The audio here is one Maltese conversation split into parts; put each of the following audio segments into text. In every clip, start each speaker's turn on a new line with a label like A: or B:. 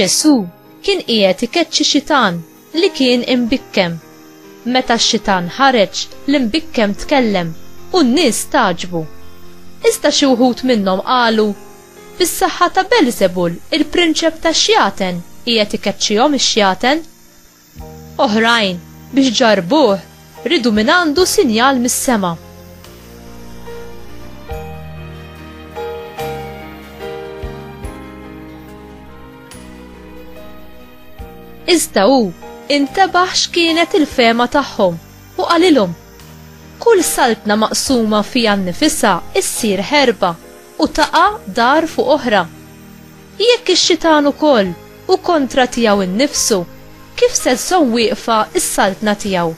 A: Ġesù kien qiegħed ikeċċi xitan li kien imbikkem. Meta x-xitan ħareġ, l-imbikkem tkellem u n-nies stagħġbu. Iżda xi wħud minnhom qalu, Bis-saħħa ta' Beelzebul, il-prinċep tax-xjaten, qiegħed ikeċċihom ix-xjaten. Oħrajn, biex ġarbuh, ridu minn għandu sinjal mis-sema. Iżda hu intebaħ x'kienet il-fema tagħhom u qalilhom kull saltna maqsuma fija nnifisha issir ħerba u taqa' dar fuq oħra. Jekk ix-xitan ukoll u kontra tiegħu nnifsu, kif se żżomm wieqfa s-saltna tiegħu?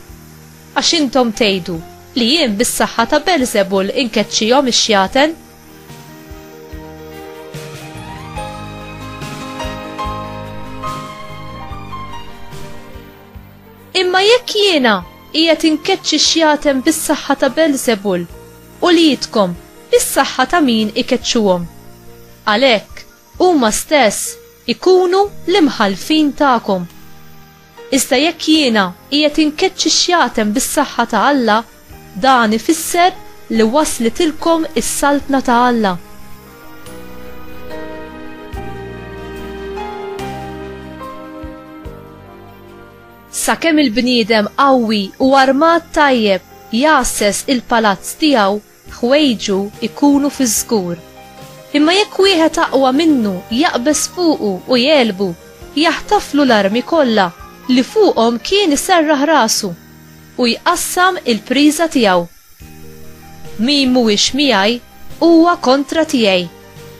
A: Għax intom tgħidu li jien bis-saħħa ta' Beelzebul inkeċċihom ix-xjaten. Imma jekk jiena qiegħed inkeċċi xjaten bis-saħħa ta' Beelzebul, u li jidkom bis-saħħa ta' min ikeċċuhom? Għalhekk, huma stess ikunu l-imħallfin tagħkom. Iżda jekk jiena qiegħed inkeċċi xjatem bis-saħħa ta' Alla, dan ifisser li waslitilkom is-Saltna ta' Alla. Sakemm il-bniedem qawwi u armat tajjeb jgħasses il-palazz tiegħu, ħwejġu jkunu fiż-żgur. Imma jekk wieħed aqwa minnu jaqbeż fuqu u jegħlbu, jaħtaflu l-armi kollha li fuqhom kien iserraħ rasu, u jqassam il-priża tiegħu. Min mhuwiex miegħi huwa kontra tiegħi,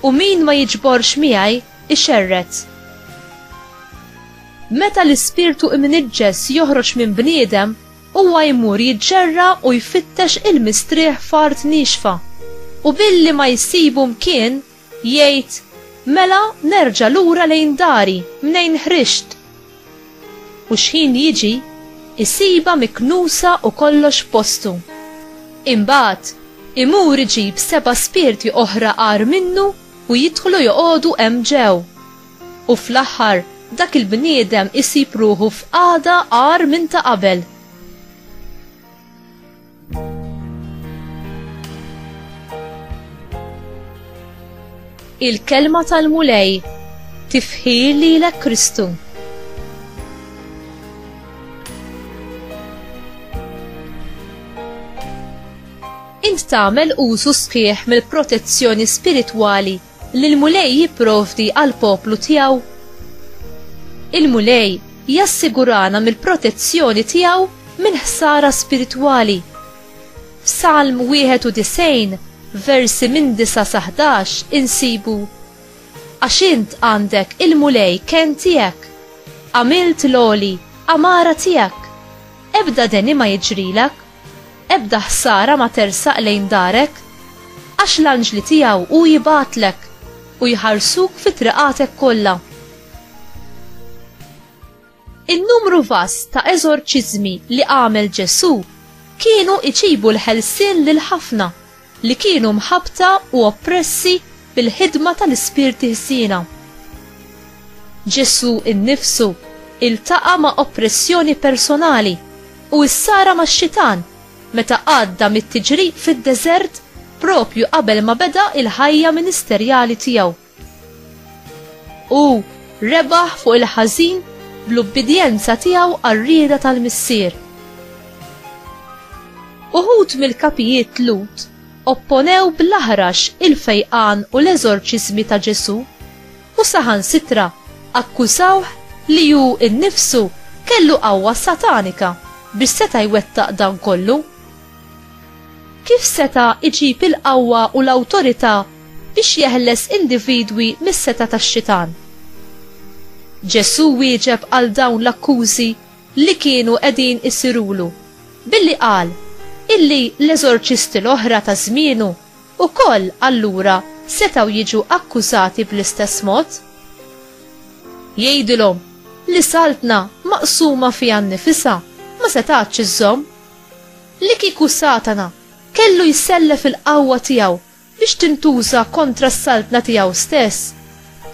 A: u min ma jiġborx miegħi ixerred. Meta l-ispirtu imniġġes joħroġ minn bniedem, Huwa jmur jiġġerra u jfittex il-mistrieħ f'art niexfa, u billi ma jsibu mkien, jgħid, Mela nerġa' lura lejn dari mnejn ħriġt. U xħin jiġi, isibha miknusa u kollox f'postu. Imbagħad, imur iġib seba' spirti oħra agħar minnu u jidħlu joqogħdu hemm ġew. U fl-aħħar, dak il-bniedem isib ruħu f'qagħda agħar minn ta' qabel. Il-kelma tal-Mulej tifħir lilek Kristu. Int tagħmel użu sħiħ mill-protezzjoni spiritwali li l-Mulej jipprovdi għall-poplu tiegħu? Il-Mulej jassigurana mill-protezzjoni tiegħu minn ħsara spiritwali. F'Salm 91, versi minn 9 sa 11 insibu Għax int għandek il-mulej ken tiegħek, għamilt l-oli, għamara tiegħek. Ebda deni ma jiġrilek, Ebda ħsara ma tersaq lejn darek, għax l-anġli tiegħu hu jibgħatlek u jħarsuk fi triqatek kollha. In-numru vast ta' eżorċiżmi li għamel Ġesù kienu iġibu l-ħelsien lil ħafna. li kienu mħabbta u oppressi bil-ħidma tal-ispirti ħsiena. Ġesù innifsu iltaqa' ma' oppressjoni personali u issara max-Xitan meta għadda mit-tiġrib fid-deżert propju qabel ma beda l-ħajja ministerjali tiegħu. U rebaħ fuq il-ħażin bl-ubbidjenza tiegħu għar-rieda tal-missier. Uħud mill-kapijiet Lut opponew bl-aħrax il-fejqan u l-eżorċiżmi ta' Ġesù u saħan sitra akkużawh li hu nnifsu kellu qawwa satanika biex seta' jwettaq dan kollu. Kif seta' iġib il-qawwa u l-awtorità biex jeħles individwi mis-setgħa tax-Xitan. Ġesù wieġeb għal dawn l-akkużi li kienu qegħdin isirulu billi qal illi l-eżorċisti l-oħra ta' żmienu wkoll allura setgħu jiġu akkużati bl-istess mod. Jgħidilhom li saltna maqsuma fiha nnifisha ma setgħatx iżżomm. Li kieku Satana kellu jsellef il-qawwa tiegħu biex tintuża kontra s-saltna tiegħu stess,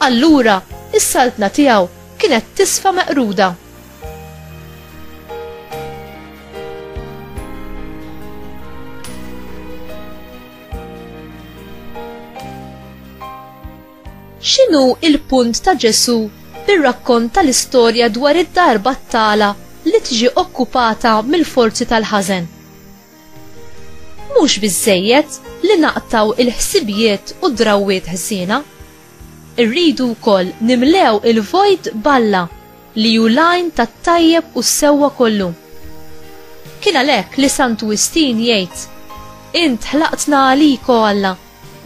A: allura s-saltna tiegħu kienet tisfa meqruda. X'inhu l-punt ta' Ġesù bir-rakkont tal-istorja dwar id-dar battala li tiġi okkupata mill-forzi tal-ħażen? Mhux biżżejjed li naqtaw il-ħsibijiet u d-drawwiet ħżiena. Irridu wkoll nimlew il-vojt b'Alla li hu l-għajn tat-tajjeb u s-sewwa kollu. Kien għalhekk li Sant Wistin jgħid, Int ħlaqtna għalik, o Alla,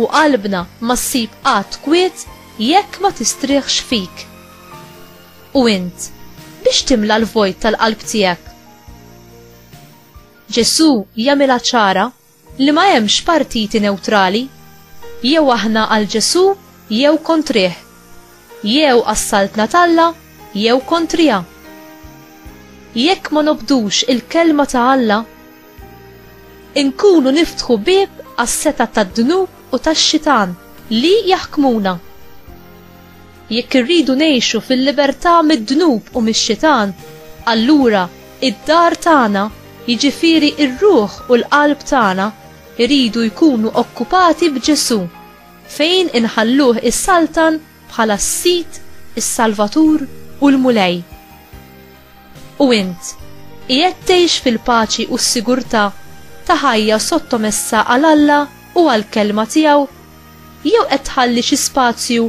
A: u qalbna ma ssib qatt kwiet jekk ma tistrieħx fik. U int, biex timla l-vojt tal-qalb tiegħek? Ġesù jagħmilha ċara li ma hemmx partiti newtrali, jew aħna għal Ġesù jew kontrih, jew għas-Saltna t'Alla jew kontriha. Jekk ma nobdux il-Kelma ta' Alla, inkunu niftħu bieb għas-setgħat tad-dnub u tax-xitan li jaħkmuna. Jekk irridu ngħixu fil-libertà mid-dnub u mix-xitan, allura id-dar tagħna, jiġifieri r-ruħ u l-qalb tagħna, iridu jkunu okkupati b'Ġesù, fejn inħalluh isaltan bħala s-Sid, is-Salvatur u l-Mulej. U int, qiegħed tgħix fil-paċi u s-sigurtà ta' ħajja sottomessa għal Alla u għall-Kelma tiegħu? Jew qed tħalli xi spazju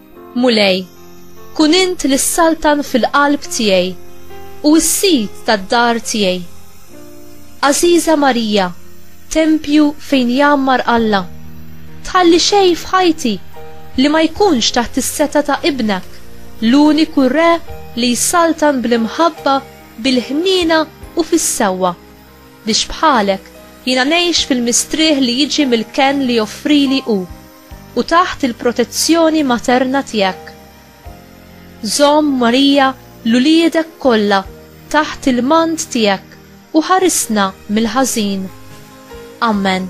A: Mulej, kun int li ssaltan fil-qalb tiegħi u s-sid tad-dar tiegħi. Għażiża Marija, tempju fejn jgħammar Alla, tħalli xejn f'ħajti li ma jkunx taħt is-seta ta' Ibnek, l-uniku Re li jsaltan bl-imħabba, bil-ħniena u fis-sewwa, biex bħalek jiena ngħix fil-mistrieħ li jiġi mill-kenn li joffrili hu. u taħt il-protezzjoni materna tiegħek. Żomm, Marija, l-uliedek kollha taħt il-mant tiegħek u ħarisna mill-ħażin. Amen.